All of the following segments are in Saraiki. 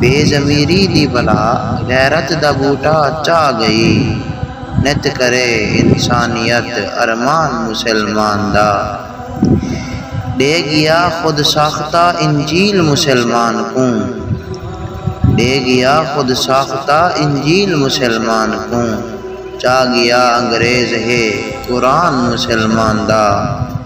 بے ضمیری دی بلا غیرت دا ٻوٹا چاہ ڳئی نت کرے انسانیت ارمان مسلمان دا ݙے ڳیا خود ساختہ انجیل مسلمان کوں ݙے ڳیا خود ساختہ انجیل مسلمان کوں چاہ ڳیا انگریز ہے قرآن مسلمان دا۔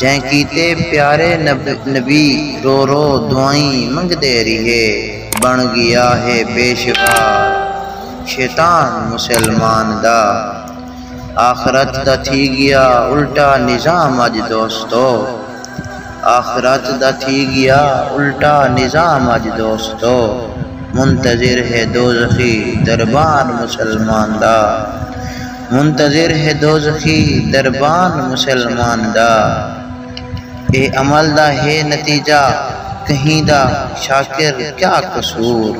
جئیں کیتے پیارے نبی رو رو دعائیں منگدے ریہے بݨ ڳیا ہے پیشوار شیطان مسلمان دا آخرت دا تھی ڳیا الٹا نظام اڄ دوستو آخرت دا تھی ڳیا الٹا نظام اڄ دوستو منتظر ہے دوزخی دربان مسلمان دا۔ منتظر ہے دوزخی دربان مسلمان دا اے عمل دا ہے نتیجہ کہیں دا شاکر کیا قصور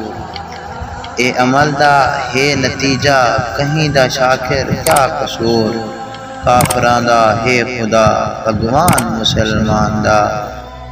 اے عمل دا ہے نتیجہ کہیں دا شاکر کیا قصور کافراں دا ہے خدا بھگوان مسلمان دا۔